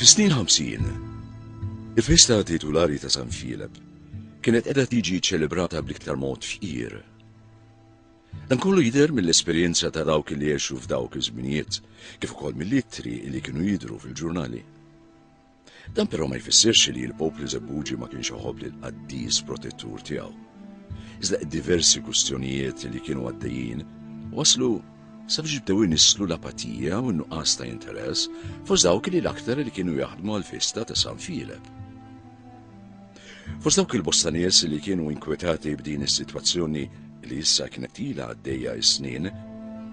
Fis-snin 50, il-festa titulari ta' San Filep kienet qiegħda tiġi ċċelebrata bl-iktar mod fqir. Dan kollu jidher mill-esperjenza ta' dawk li għexu f'dawk iż-żminijiet, kif ukoll mill-ittri li kienu jidhru fil-ġurnali. Dan però ma jfissirx li l-poplu Żebbuġi ma kienx iħobb lil qaddis protettur tiegħu. Iżda diversi kwistjonijiet li kienu għaddejjin waslu sabiex jibdew inislu l-apatija u n-nuqqas ta' interess fost dawk li l-aktar li kienu jaħdmu għal-festa ta' San Filep. Fost dawk il-bosta nies li kienu inkwetati b'din is-sitwazzjoni li issa kienet ila għaddejja is-snin,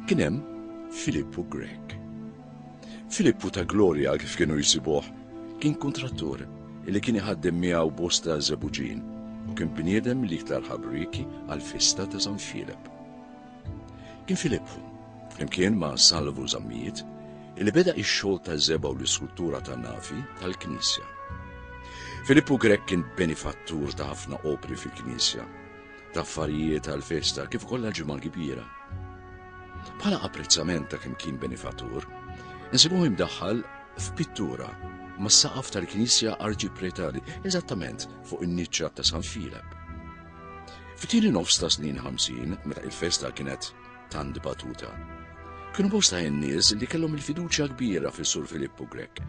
kien hemm Filippu Grek, Filippu ta' Gloria, kif kienu jsibuh, kien kuntrattur li kien iħaddem miegħu bosta żebuġin u kien bniedem l-iktar ħabrieki għall-festa ta' San Filep. Kien Filippu, flimkien ma' Salvu Zammit, li beda ix-xogħol ta' żebgħa u l-iskultura ta' navi tal-Knisja. Filippu Grech kien benifattur ta' ħafna opri fil-Knisja. ta' affarijiet għal festa kif ukoll għal ġimgħa kbira. Bħala apprezzament ta' kemm kien benifatur, insibuh imdaħħal f'pittura mas-saqaf tal-Knisja Arċipretali, eżattament fuq in-niċċa ta' San Filep. F'tieni nofs ta' snin 50, meta il-festa kienet tant dibattuta. Kienu bosta in-nies li kellhom il-fiduċja kbira fis-Sur Filippu Grek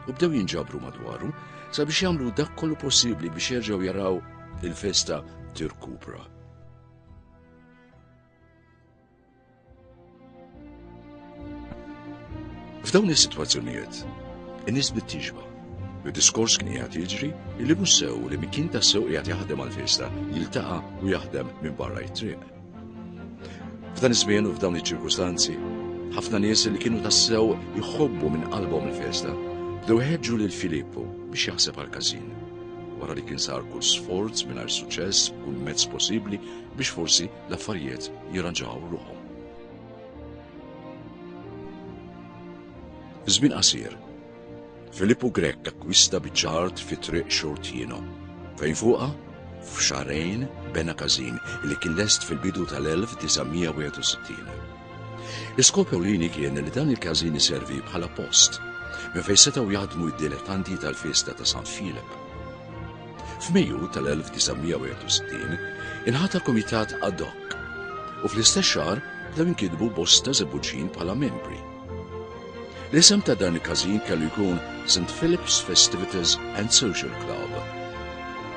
u bdew jinġabru madwaru sabiex jagħmlu dak kollu possibbli biex jerġgħu jaraw il-festa tirkupra. F'dawn is-sitwazzjonijiet, in-nies bit-tixba. Bid-diskors kien qiegħed jiġri li mhux sew li min kien tassew qiegħed jaħdem għall-festa jiltaqa' u jaħdem minn barra t-triq. F'dan iż-żmien u f'dawn iċ-ċirkustanzi, ħafna nies li kienu tassew jħobbu minn qalbhom il-festa, bdew ħeġġu lil Filippu biex jaħseb għal każin. Wara li kien sar kull sforz mingħajr suċċess, kull mezz possibbli biex forsi l-affarijiet jirranġaw ruħhom. Żmien qasir, Filippu Grech akkwista biċ-ċart fi triq Xortino, fejn fuqha f'xarejn bena każin li kien lest fil-bidu tal-1961. L-iskop ewlieni kien li dan il-każin iservi bħala post minn fejn setgħu jaħdmu d-dilettanti tal-festa ta' San Filip. F'Mejju tal-1961 inħata komitat ad hoc u fl-istess xahar bdew inkitbu bosta żebbuġin bħala membri. L-isem ta' dan il-każin kellu jkun St. Philip's Festivities and Social Club,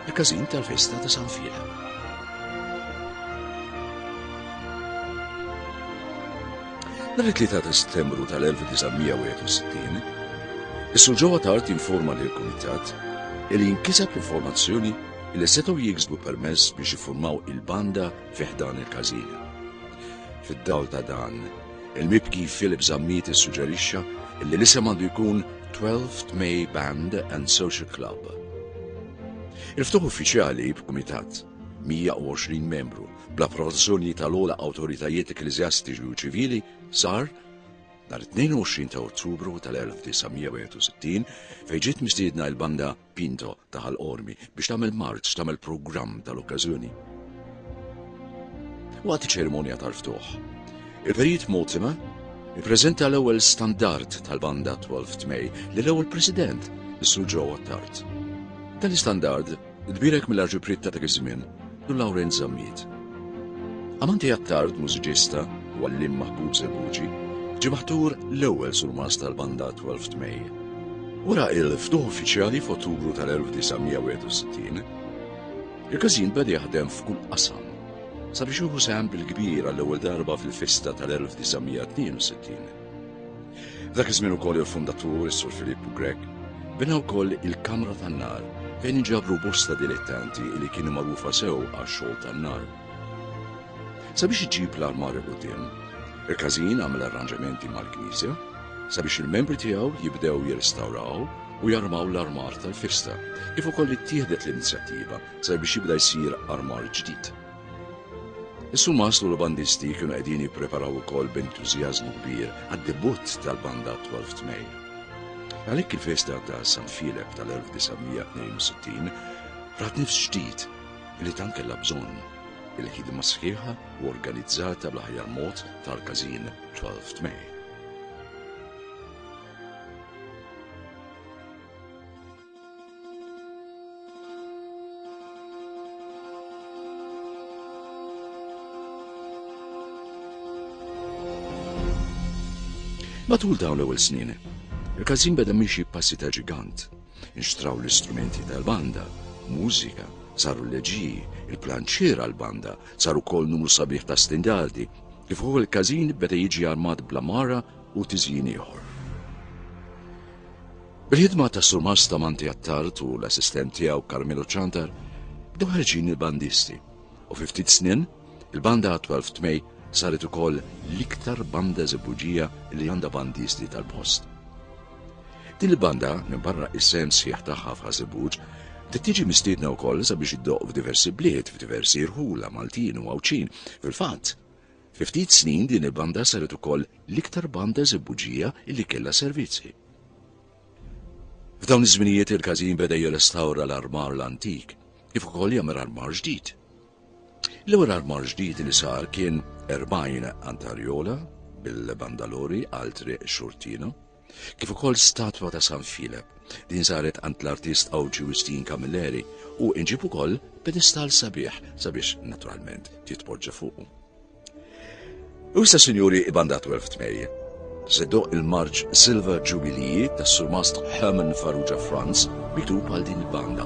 il-każin tal-festa ta' San Filip. Nhar it-3 ta' Settembru tal-1961, is-Sur Ġewwa Tart informa lil kumitat li jinkiseb l-informazzjoni li setgħu jiksbu permess biex jiffurmaw il-banda fih dan il-każin. Fid-dawl ta' dan, Il-mibki Philip Zammit issuġġerixxa li l-isem għandu jkun 12th May Band and Social Club. Il-ftuħ uffiċjali b'kumitat 120 membru bl-approvazzjoni tal-ogħla awtoritajiet ekkleżjastiċi u ċivili sar nhar 22 ta' Ottubru tal-1961 fejn ġiet mistiedna l-banda Pinto ta' Ħal Qormi biex tagħmel marċ tagħmel programm tal-okkażjoni. Waqt iċ-ċerimonja tal-ftuħ, il-Perit Motima ippreżenta l-ewwel standard tal-banda 12 May li l-ewwel President, is-Sur Ġewwa Tart. Dan l-istandard tbierek mill-arġipriet ta' dak iż-żmien u Lawrence Zammit. Amanti Attard, mużiċista u għalliem maħbub Żebbuġi, ġie maħtur l-ewwel surmast tal-banda 12th May. Wara l-ftuħ uffiċjali f'Ottubru tal-1961, il-każin beda jaħdem f'kull qasam sabiex jieħu sehem bil-kbir għall-ewwel darba fil-festa tal-1962. Dak iż-żmien ukoll il-fundatur, is-Sur Filippu Grek, bina wkoll il-Kamra tan-Nar fejn inġabru bosta dilettanti li kienu magħrufa sew għax-xogħol tan-nar. Sabiex iġib l-armar il-qudiem, il-każin għamel arranġamenti mal-Knisja sabiex il-membri tiegħu jibdew jirrestawraw u jarmaw l-armar tal-festa, kif ukoll ittieħdet l-inizjattiva sabiex jibda jsir armar ġdid. Is-Sumas u l-bandisti kienu qegħdin jippreparaw ukoll b'entużjażmu kbir għad-debutt tal-banda attwal f'Tmejn. Għalhekk il-festa ta' San Filep tal-1962 rat nifs ġdid li tant kellha bżonn il-ħidma sħiħa u organizzata bl-aħjar mod tal-każin 12 May. Matul dawn l-ewwel snin, il-każin beda miexi passi ta' ġigant. Inxtraw l-istrumenti tal-banda, mużika, saru l-leġiji, il-planċiera l-banda, saru kol numru sabiħ ta' standardi, kif ukoll il-każin beda jiġi armat bla mara u tiżjin ieħor. Bil-ħidma ta' Sur Masta Manti Attard u l-assistent tiegħu Carmelo Ċantar bdew ħerġin il-bandisti u fi ftit snin il-banda 12 May saret ukoll l-iktar banda żebbuġija li għandha bandisti tal-post. Din il-banda minn barra is-sens sħiħ tagħha f'Ħażibuġ tiġi mistiedna wkoll sabiex iddoq f'diversi bliet, f'diversi rħula Maltin u Għawdxin. Fil-fatt, Fi ftit snin din il-banda saret ukoll l-iktar banda Żibbuġija li kellha servizzi. F'dawn iż-żminijiet il-każin beda jirrestawra l-armar l-antik kif ukoll jagħmel armar ġdid. L-ewwel armar ġdid li sar kien 40 antarjola bil-bandalori għal triq Xurtina, kif ukoll statwa ta' San Filep li nsaret għand l-artist Għawġi Wistin Camilleri u inġib ukoll pedestal sabiħ sabiex naturalment titpoġġa fuqu. U issa sinjuri ibanda 12 tmejje. Seddo il-marġ Silver Jubilee tas-surmast Herman Farrugia Franz miktub għal din il-banda